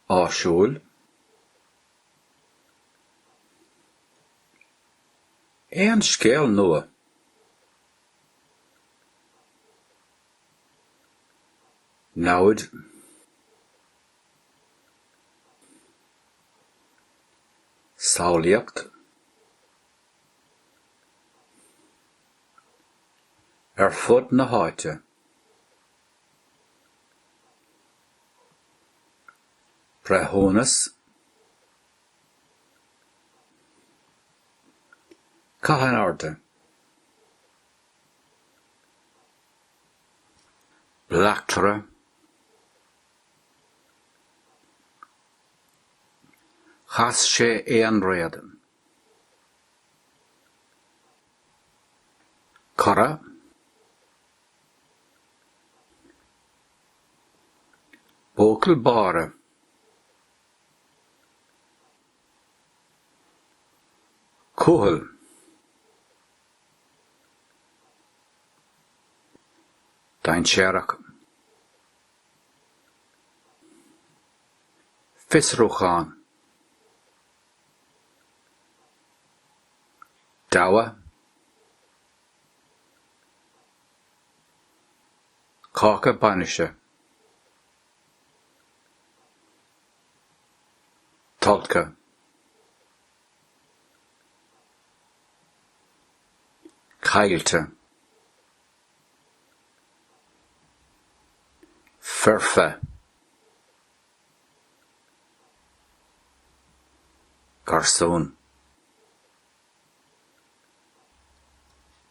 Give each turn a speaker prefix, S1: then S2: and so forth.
S1: áisiúil, aon scéal nua. namhaid, samhlaíocht, ar fud na háite. Breithiúnas Caith in airde. Bleachtaire Chas sé an roth. Cara, Buachaill Báire. Cumhaill. Dainséarach. Fiosrúchán. Gabha, cáca bainise, tolgtha, caillte, foirfe. garsún.